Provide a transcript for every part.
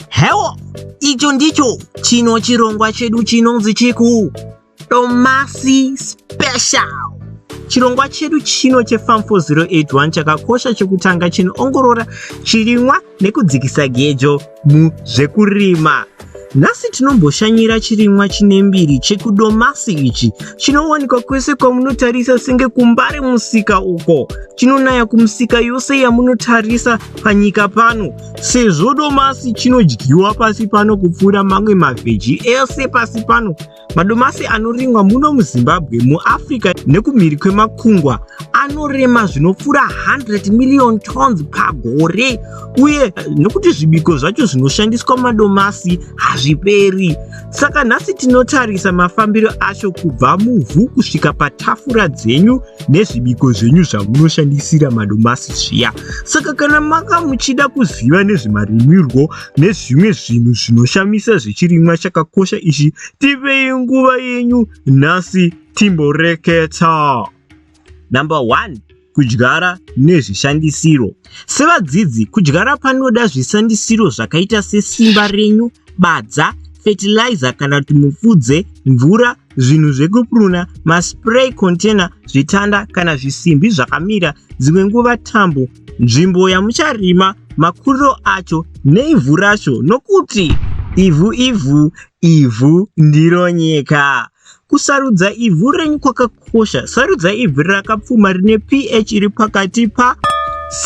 hewo icho ndicho chino chirongwa chedu chinonzi chiku tomasi special chirongwa chedu chino chefam 4081 chakakosha chekutanga chinoongorora chirimwa nekudzikisa gejo muzvekurima Nhasi tinomboshanyira chirimwa chine mbiri chekudomasi ichi chinowanikwa kwese kwamunotarisa senge kumbare musika uko chinonaya kumusika yose yamunotarisa panyika pano sezvo domasi chinodyiwa pasi pano kupfuura mamwe mavheji ese pasi pano Madomasi anorimwa muno muZimbabwe, muAfrica nekumhiri kwemakungwa anorema zvinopfuura 100 million tons pagore uye nekuti zvibiko zvacho zvinoshandiswa madomasi hazviperi. Saka nhasi tinotarisa mafambiro acho kubva muvhu kusvika patafura dzenyu nezvibiko zvenyu zvamunoshandisira madomasi zviya. Saka kana manga muchida kuziva nezvemarimirwo nezvimwe zvinhu zvinoshamisa zvechirimwa chakakosha ichi tipei nguva yenyu nhasi timboreketa number one kudyara nezvishandisiro sevadzidzi kudyara panoda zvishandisiro zvakaita sesimba renyu badza fertilizer kana kuti mupfudze mvura zvinhu zvekupuruna, maspray container, zvitanda kana zvisimbi zvakamira, dzimwe nguva tambo, nzvimbo yamucharima, makuriro acho neivhu racho nokuti ivhu ivhu ivhu ndiro nyika. Kusarudza ivhu renyu kwakakosha. Sarudza ivhu rakapfuma rine pH iri pakati pa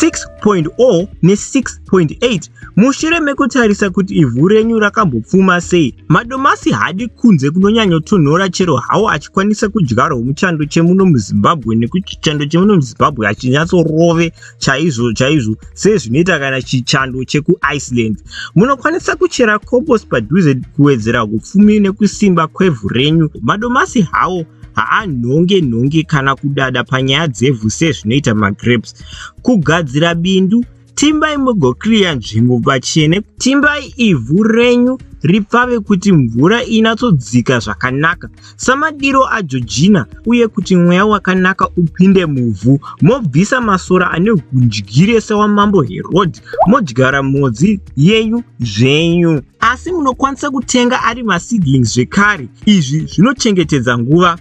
6.0 ne 6.8 mushure mekutarisa kuti ivhu renyu rakambopfuma sei Madomasi haadi kunze kunonyanyotonhora chero hawo achikwanisa kudyarwa muchando chemuno muzimbabwe nekuti chando chemuno muzimbabwe hachinyatsorove chaizvo chaizvo sezvinoita kana chichando chekuiceland munokwanisa kuchera cobos padhuze kuwedzera upfumi nekusimba kwevhu renyu madomasi hawo haanhonge nhonge kana kudada panyaya dzevhu sezvinoita magrapes kugadzira bindu Timbai mugokiriya nzvimbo pachene. Timbai ivhu renyu ripfave kuti mvura inatsodzika zvakanaka samadiro ajojina uye kuti mweya wakanaka upinde muvhu. Mobvisa masora ane hundyire sewamambo Herodhi modyara mhodzi yenyu zvenyu. Asi munokwanisa kutenga ari maseedlings zvekare. Izvi zvinochengetedza nguva.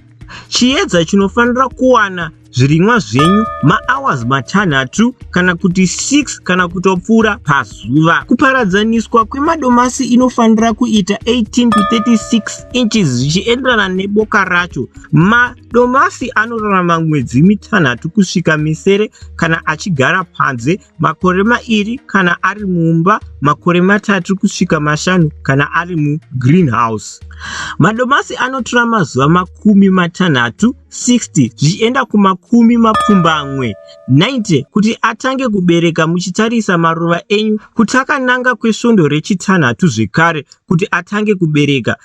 Chiedza chinofanira kuwana zvirimwa zvenyu mahours matanhatu kana kuti 6 kana kutopfuura pazuva. Kuparadzaniswa kwemadomasi inofanira kuita 18 to 36 inches zvichienderana neboka racho. Madomasi anorarama mwedzi mitanhatu kusvika misere kana achigara panze. makore mairi kana ari mumba, makore matatu kusvika mashanu kana ari mugreenhouse. Madomasi anotora mazuva makumi matanhatu 60 zvichienda kumakumi mapfumbamwe 90 kuti atange kubereka muchitarisa maruva enyu kuti akananga kwesvondo rechitanhatu zvekare kuti atange kubereka.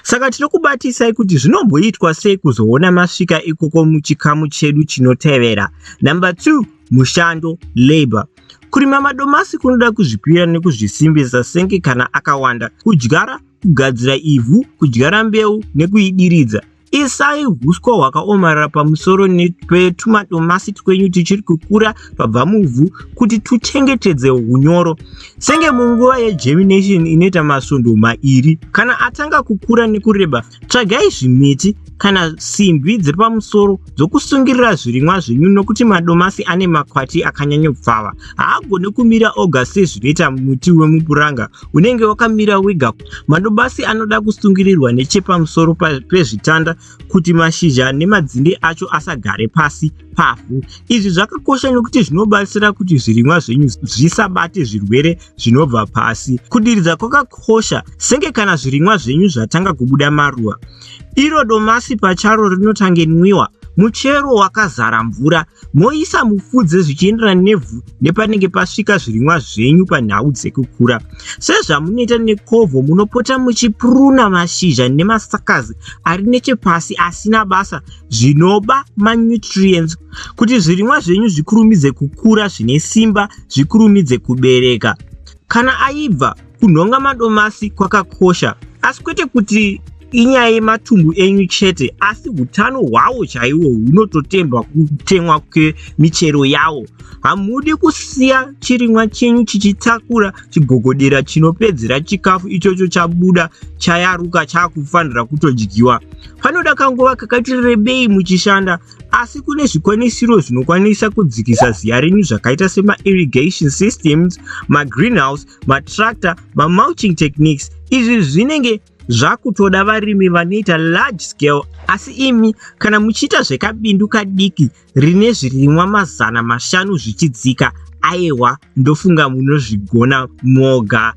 Saka tinokubatisai kuti zvinomboitwa sei kuzoona masvika ikoko muchikamu chedu chinotevera. Number 2. Mushando, labor. Kurima madomasi kunoda kuzvipira nekuzvisimbisa senge kana akawanda. Kudyara, kugadzira ivhu, kudyara mbeu nekuidiridza. Isai huswa hwakaomarara pamusoro petumadomasi twenyu tuchiri kukura pabva muvhu kuti tuchengetedze hunyoro. Senge munguva yegermination inoita masvondo mairi. Kana atanga kukura nekureba, Tsvagai zvimiti kana simbi dziri pamusoro dzokusungirira zvirimwa zvenyu nokuti madomasi ane makwati akanyanyopfava. Haagone kumira oga sezvinoita muti wemupuranga unenge wakamira wega. Madomasi anoda kusungirirwa nechepamusoro pezvitanda kuti mashizha nemadzinde acho asagare pasi pavhu. Izvi zvakakosha nokuti zvinobatsira kuti zvirimwa zvenyu zvisabate zvirwere zvinobva pasi. Kudiridza kwakakosha senge kana zvirimwa zvenyu zvatanga kubuda maruva. Iro domasi pacharo rinotange nwiwa muchero wakazara mvura moisa mufudze zvichienderana nevhu nepanenge pasvika zvirimwa zvenyu panhau dzekukura sezvamunoita nekovho munopota muchipuruna mashizha nemasakazi ari nechepasi asina basa zvinoba manutrients kuti zvirimwa zvenyu zvikurumidze kukura zvine simba zvikurumidze kubereka. Kana aibva, kunhonga madomasi kwakakosha, asi kwete kuti inyaya yematumbu enyu chete asi utano hwawo chaiwo hunototemba kutemwa kwemichero yawo hamudi kusiya chirimwa chenyu chichitakura chigogodera chinopedzera chikafu ichocho chabuda chayaruka chaakufanira kutodyiwa panoda kanguva kakati rebei muchishanda asi kune zvikwanisiro zvinokwanisa kudzikisa ziya renyu zvakaita semairrigation systems magreenhouse matractor mamulching techniques izvi zvinenge zvakutoda varimi vanoita large scale asi imi kana muchiita zvekabindu kadiki rine zvirimwa mazana mashanu zvichidzika ayewa ndofunga munozvigona moga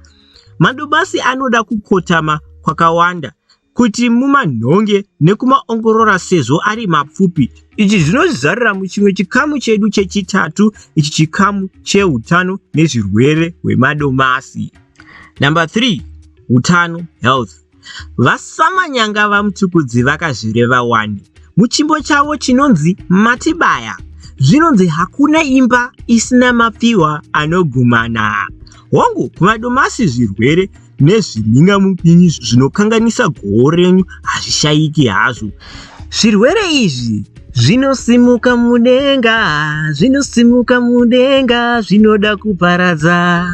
madobasi anoda kukotama kwakawanda kuti mumanhonge nekumaongorora sezvo ari mapfupi. Ichi zvinozarira muchimwe chikamu chedu chechitatu ichi chikamu cheutano nezvirwere hwemadomasi. Number 3, utano, health. VaSamanyanga VaMtukudzi vakazvireva wani muchimbo chavo chinonzi Matibaya zvinonzi hakuna imba isina mapiwa anogumana. Hongu, kumadomasi zvirwere nezvimhingamupinyi zvinokanganisa goho renyu hazvishayiki hazvo. Zvirwere izvi zvinosimuka mudenga, zvinosimuka mudenga, zvinoda kuparadza.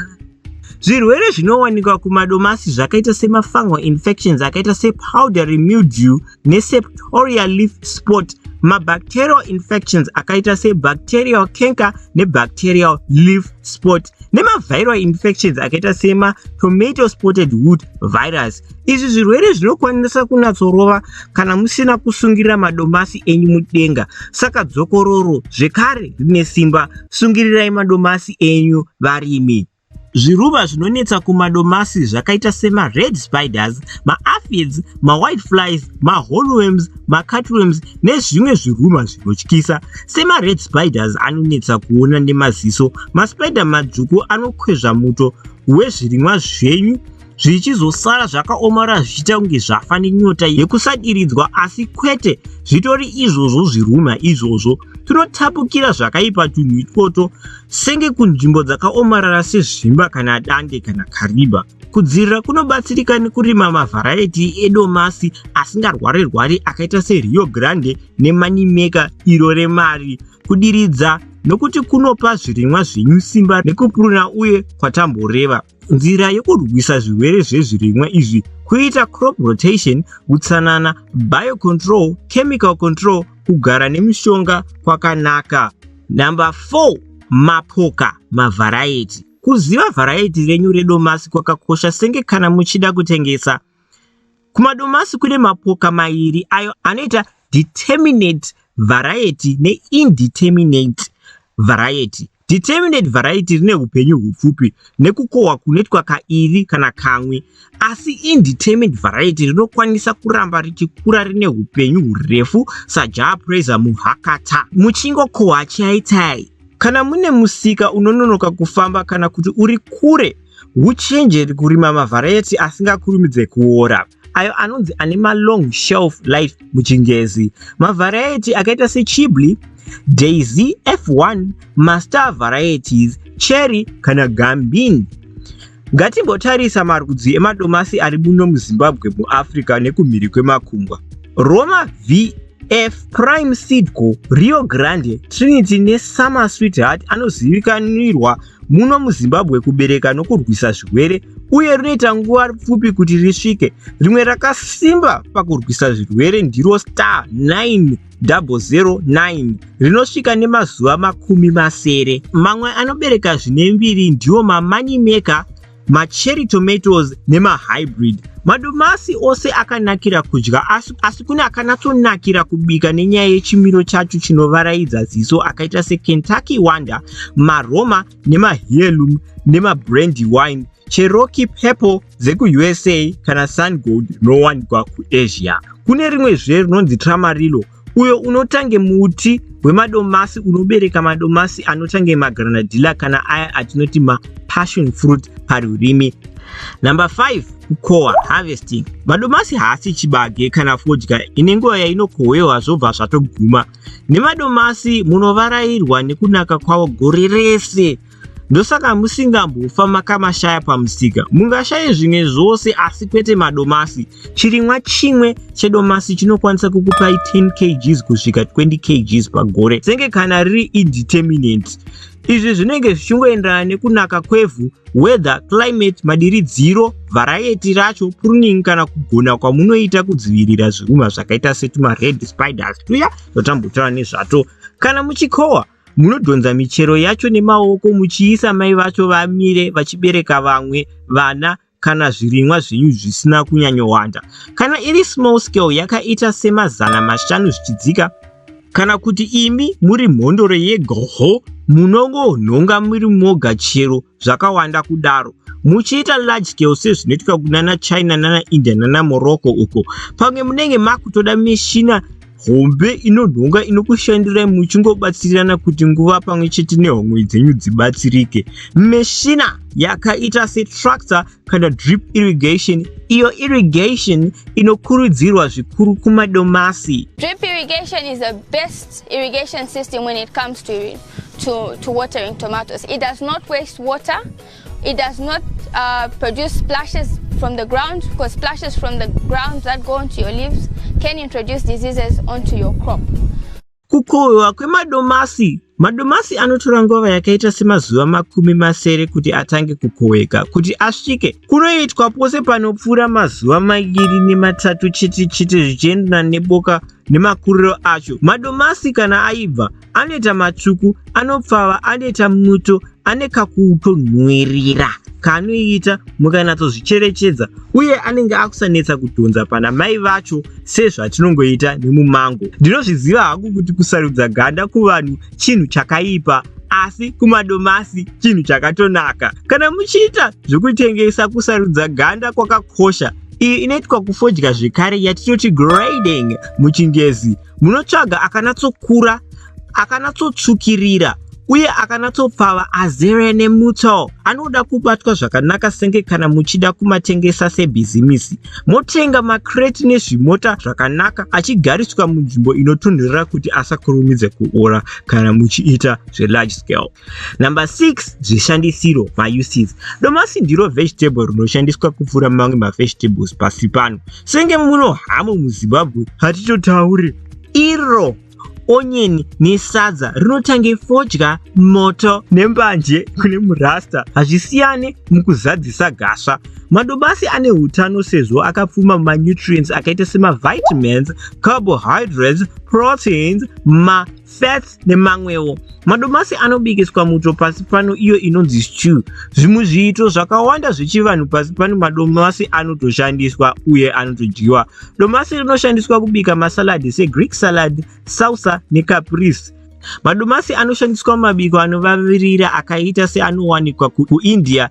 Zvirwere zvinowanikwa kumadomasi zvakaita semafungal infections akaita sepowdery mildew neseptoria leaf spot mabacterial infections akaita sebacterial canker nebacterial leaf spot nemaviral infections akaita sema tomato spotted wood virus izvi zvirwere zvinokwanisa kunatsorova kana musina kusungirira madomasi enyu mudenga saka dzokororo zvekare rine simba sungirirai madomasi enyu varimi Zviruva zvinonetsa kumadomasi zvakaita sema red spiders, ma aphids, ma white flies, ma hollworms, ma cutworms nezvimwe zviruma zvinotyisa. Sema red spiders anonetsa kuona nemaziso, ma spider madzvuku anokwezva muto wezvirimwa zvenyu zvichizosara zvakaomarara zvichiita kunge zvafa nenyota yekusadiridzwa asi kwete zvitori izvozvo zvirumha izvozvo tinotapukira zvakaipa tunhu itwoto senge kunzvimbo dzakaomarara sezvimba kana dande kana kariba kudzirira kunobatsirika nekurima mavharaiti edomasi asingarware rwari akaita serio grande nemanimeka iro remari kudiridza nokuti kunopa zvirimwa zvenyu simba nekupuruna uye kwatamboreva Nzira yekurwisa zvirwere zvezvirimwa izvi kuita crop rotation, utsanana, biocontrol, chemical control, kugara nemishonga kwakanaka. Number 4, mapoka, mavharaiti. Kuziva vharaiti renyu redomasi kwakakosha senge kana muchida kutengesa. Kumadomasi kune mapoka mairi ayo anoita determinate variety neindeterminate variety. Determinate variety rine upenyu hupfupi nekukohwa kunoitwa kairi kana kamwe, asi indeterminate variety rinokwanisa kuramba richikura rine upenyu hurefu saJah Prayzah muhakata. Muchingokohwa chaitai. Kana mune musika unononoka kufamba kana kuti uri kure, Huchinje kurima mavharayeti asingakurumidze kuora, ayo anonzi ane malong shelf life muChingezi. Mavharayeti akaita seChibli, Daisy F1, Mastar varieties, Cherry kana Gambin. Ngatimbotarisa marudzi emadomasi ari muno muZimbabwe, muAfrica nekumhiri kwemakungwa. Roma V F Prime Seed Co, Rio Grande, Trinity neSummer Sweetheart anozivikanirwa muno muzimbabwe kubereka nokurwisa zvirwere uye rinoita nguva pfupi kuti risvike rimwe rakasimba pakurwisa zvirwere ndiro star 9009 rinosvika nemazuva makumi masere mamwe anobereka zvine mbiri ndiwo mamanimeka macherry tomatoes nemahybrid madomasi ose akanakira kudya asi, asi kune akanatsonakira kubika nenyaya yechimiro chacho chinovaraidza ziso akaita sekentucky wonder maroma nemaheirloom nemabrandy wine cherokey purple dzekuusa kana sungold rinowanikwa kuasia kune rimwe zve rinonzi tramarilo uyo unotange muti wemadomasi unobereka madomasi anotange magranadilla kana aya atinoti mapassion fruit parurimi number 5 kukohwa harvesting madomasi haasi chibage kana fodya ine nguva yainokohwewa zvobva zvatoguma nemadomasi munovarairwa nekunaka kwavo gore rese Ndosaka musingambofa makamashaya pamusika. Mungashaye zvimwe zvose asi kwete madomasi. Chirimwa chimwe chedomasi chinokwanisa kukupai 10 kgs kusvika 20 kgs pagore senge kana riri indeterminate. Izvi zvinenge zvichingoenderana nekunaka kwevhu, weather, climate, madiridziro, variety racho, pruning kana kugona kwamunoita kudzivirira zviruma zvakaita setuma red spiders tuya zvatambotaura nezvato kana muchikohwa. Munodhonza michero yacho nemaoko muchiisa mai vacho vamire vachibereka vamwe vana kana zvirimwa zvenyu zvisina kunyanyowanda. Kana iri small scale yakaita semazana mashanu zvichidzika, kana kuti imi muri mhondoro yegoho munongonhonga muri moga chero zvakawanda kudaro muchiita large scale sezvinoitika kunana china nana india nana morocco uko pamwe munenge makutoda mishina hombe inonhonga inokushandirai muchingobatsirirana kuti nguva pamwe chete nehomwe dzenyu dzibatsirike mishina yakaita setractor kana drip irrigation iyo irrigation inokurudzirwa zvikuru kumadomasi drip irrigation is the best irrigation system when it comes to to, to watering tomatoes. It does not waste water. It does not uh, produce splashes from the ground because splashes from the ground that go onto your leaves can introduce diseases onto your crop. Kukohwewa kwemadomasi Madomasi anotora nguva yakaita semazuva makumi masere kuti atange kukohweka. Kuti asvike, kunoitwa pose panopfuura mazuva maviri nematatu chete chete zvichienderana neboka nemakuriro acho. Madomasi kana aibva, anoita matsvuku anopfava anoita muto ane kakutonhuwirira kaanoita mukanatsozvicherechedza uye anenge akusanetsa kudhonza pana mai vacho sezvatinongoita nemumango ndinozviziva hangu kuti kusarudza ganda kuvanhu chinhu chakaipa asi kumadomasi chinhu chakatonaka kana muchiita zvekutengesa kusarudza ganda kwakakosha iyi inoitwa kufodya zvekare yatitoti grading muchingezi Munotsvaga akanatsokura, akanatsotsvukirira, uye akanatsopfava azere nemutso. Anoda kubatwa zvakanaka senge kana muchida kumatengesa sebhizimisi. Motenga makreti nezvimota zvakanaka achigariswa munzvimbo inotonhorera kuti asakurumidze kuora kana muchiita zvelarge scale. Number 6 zvishandisiro mauses. Domasi ndiro vegetable rinoshandiswa kupfuura mamwe mavegetables pasi pano. Senge muno hamu muZimbabwe hatitotaure iro onyeni nesadza rinotange fodya moto nembanje kune murasta hazvisiyane mukuzadzisa gasva madobasi ane utano sezvo akapfuma manutrients akaita semavitamins carbohydrates proteins ma fats nemamwewo. Madomasi anobikiswa muto pasi pano iyo inonzi stew. Zvimwe zviito zvakawanda zvechivanhu pasi pano madomasi anotoshandiswa uye anotodyiwa. Domasi rinoshandiswa kubika masaladi seGreek salad, salsa necaprese. Madomasi anoshandiswa mumabiko anovavirira akaita seanowanikwa kuIndia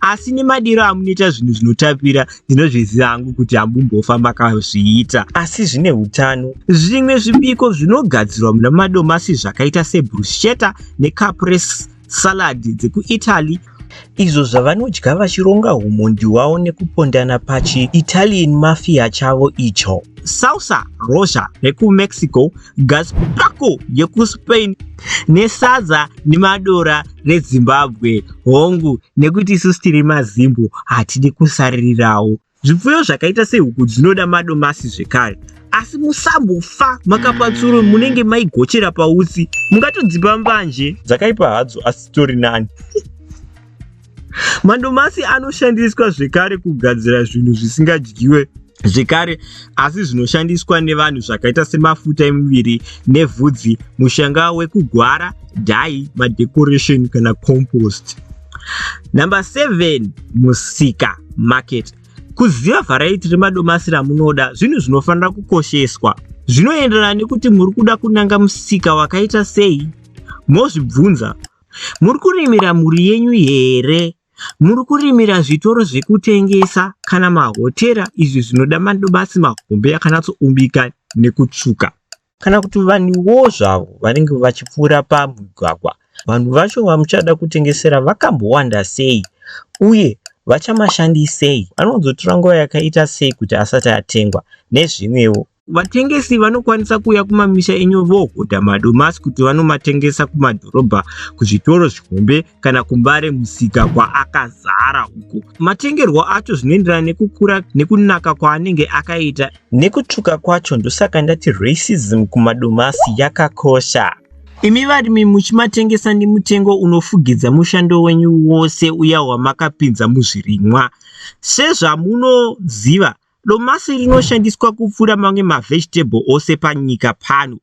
asi nemadiro amunoita zvinhu zvinotapira ndinozviziva hangu kuti hambumbofa makazviita asi zvine utano zvimwe zvibiko zvinogadzirwa muna madomasi zvakaita sebruschetta necapres salad dzekuitaly izvo zvavanodya vachironga humondi wavo nekupondana pachiitalian mafia chavo icho sausa rosha rekumexico Gaspako yekuSpain nesadza nemadora reZimbabwe hongu nekuti isusu tiri maZimbo hatidi kusaririrawo. Zvipfuyo zvakaita sehuku dzinoda madomasi zvekare asi musambofa makapa tsuro munenge maigochera pautsi mungatodzipa mbanje dzakaipa hadzo asi tori nani Mandomasi anoshandiswa zvekare kugadzira zvinhu zvisingadyiwe zvekare asi zvinoshandiswa nevanhu zvakaita semafuta emuviri nevhudzi mushanga wekugwara dai madecoration kana compost number 7 musika market kuziva vharaiti remadomasi ramunoda zvinhu zvinofanira kukosheswa zvinoenderana nekuti muri kuda kunanga musika wakaita sei mozvibvunza Muri kurimira mhuri yenyu here? Muri kurimira zvitoro zvekutengesa kana mahotera izvi zvinoda madomasi mahombe akanatsoumbika nekutsvuka? Kana kuti vanhuwo zvavo vanenge vachipfuura pamugwagwa, vanhu vacho vamuchada kutengesera vakambowanda sei uye vachamashandisei? Anozotora nguva yakaita sei kuti asati atengwa? Nezvimwewo. Vatengesi vanokwanisa kuuya kumamisha enyu vohodha madomasi kuti vanomatengesa kumadhorobha, kuzvitoro zvihombe kana kumbare musika kwaakazara uko. Matengerwo acho zvinoenderana nekukura nekunaka kwaanenge akaita. Nekutsvuka kwacho ndosaka ndati racism kumadomasi yakakosha. Imi varimi muchimatengesa nemutengo unofugidza mushando wenyu wose uya wamakapinza muzvirimwa. Sezvamunoziva, Domasi rinoshandiswa kupfuura mamwe mavegetable ose panyika pano.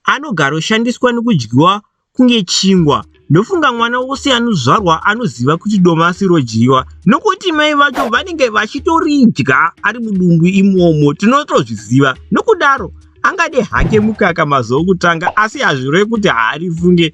Anogaroshandiswa nekudyiwa kunge chingwa. Ndofunga mwana wose anozvarwa anoziva kuti domasi rodyiwa nokuti mai vacho vanenge vachitoridya ari mudumbu imomo tinotozviziva. Nokudaro angade hake mukaka mazuva okutanga asi hazvireve kuti haarifunge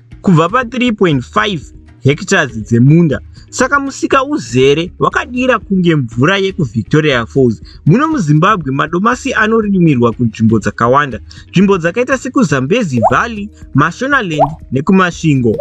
kubva pa 3.5 hectares dzemunda saka musika uzere wakadira kunge mvura yekuvictoria falls muno muzimbabwe madomasi anorimirwa kunzvimbo dzakawanda nzvimbo dzakaita sekuzambezi valley mashonaland nekumasvingo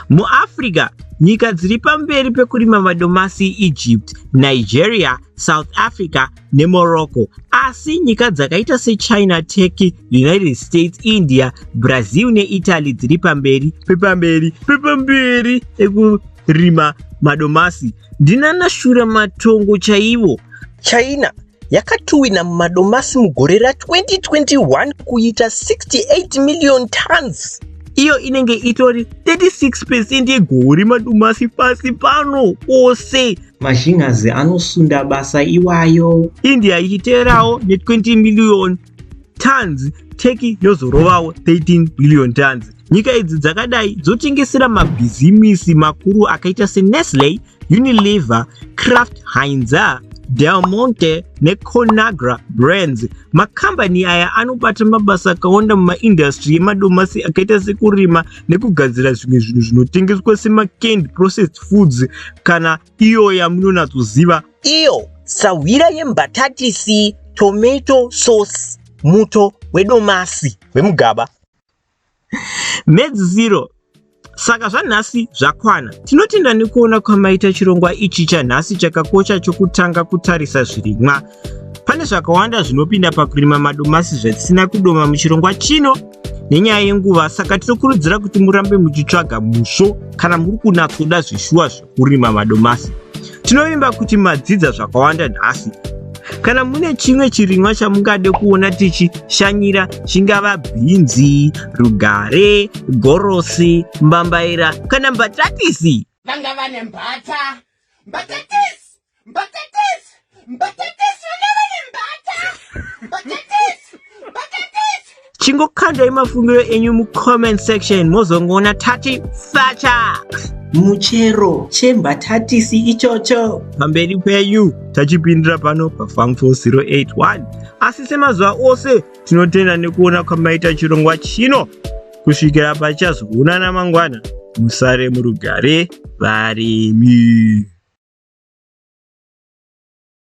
muafrica nyika dziri pamberi pekurima madomasi iegypt nigeria south africa neMorocco, asi nyika dzakaita seChina, Turkey, United States, India, Brazil neItaly dziri pamberi pepamberi pepamberi ekurima madomasi. Ndinana shura matongo chaivo. China yakatuwina madomasi mugore ra 2021 kuita 68 million tons iyo inenge itori 36 percent yegoho remadomasi pasi pano ose Mazhinhazi anosunda basa iwayo. India ichiteerawo ne 20 million tons, Turkey yozorovawo 13 million tons. Nyika idzi dzakadai dzotengesera mabhizimisi makuru akaita seNestle, Unilever, Kraft Heinz, Del Monte neConagra Brands. Makambani aya anobata mabasa akawanda mumaindastri yemadomasi akaita sekurima nekugadzira zvimwe zvinhu zvinotengeswa semacanned processed foods kana iyo yamunonatsoziva iyo sahwira yembatatisi tomato sauce muto wedomasi wemugaba medzisiro saka zvanhasi zvakwana tinotenda nekuona kwamaita chirongwa ichi chanhasi chakakosha chokutanga kutarisa zvirimwa Pane zvakawanda zvinopinda pakurima madomasi zvatisina kudoma muchirongwa chino nenyaya yenguva saka tinokurudzira kuti murambe muchitsvaga musvo kana muri kunatsoda zvishuwa zvekurima madomasi tinovimba kuti madzidza zvakawanda nhasi kana mune chimwe chirimwa chamungade kuona tichishanyira chingava bhinzi rugare gorosi mbambaira kana mbatatisi vanga vane mbata mbatatisi Mbatatisi! Mbatatisi! Vana vane mbata! Mbatatisi! Mbatatisi! Chingokandai mafungiro enyu mucomment section mozongoona tati facha! Muchero chembatatisi ichocho. Pamberi penyu tachipindira pano paFarm 4081 asi semazuva ose tinotenda nekuona kwamaita chirongwa chino kusvikira pachazoonana mangwana musare murugare varimi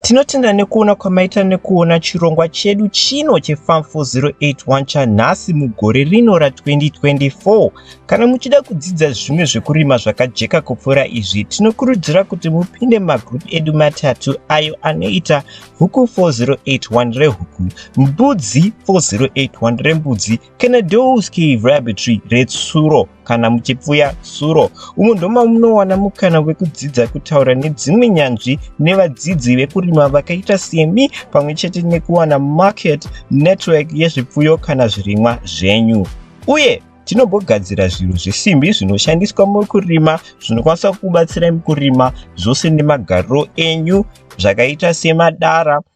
Tinotenda nekuona kwamaita nekuona chirongwa chedu chino cheFarm 4081 chanhasi mugore rino ra2024. Kana muchida kudzidza zvimwe zvekurima zvakajeka kupfuura izvi, tinokurudzira kuti mupinde magroup edu matatu ayo anoita Huku 4081 rehuku, Mbudzi 4081 rembudzi Kenedowski Laboratory retsuro kana muchipfuya suro umo ndoma munowana mukana wekudzidza kutaura nedzimwe nyanzvi nevadzidzi vekurima vakaita semi pamwe chete nekuwana market network yezvipfuyo kana zvirimwa zvenyu uye tinobogadzira zvinhu zvesimbi zvinoshandiswa mukurima zvinokwanisa kubatsira mukurima zvose nemagariro enyu zvakaita semadara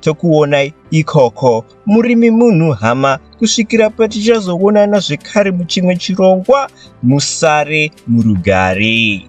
tokuonai ikoko murimi munhu hama kusvikira patichazoonana zvekare muchimwe chirongwa musare murugare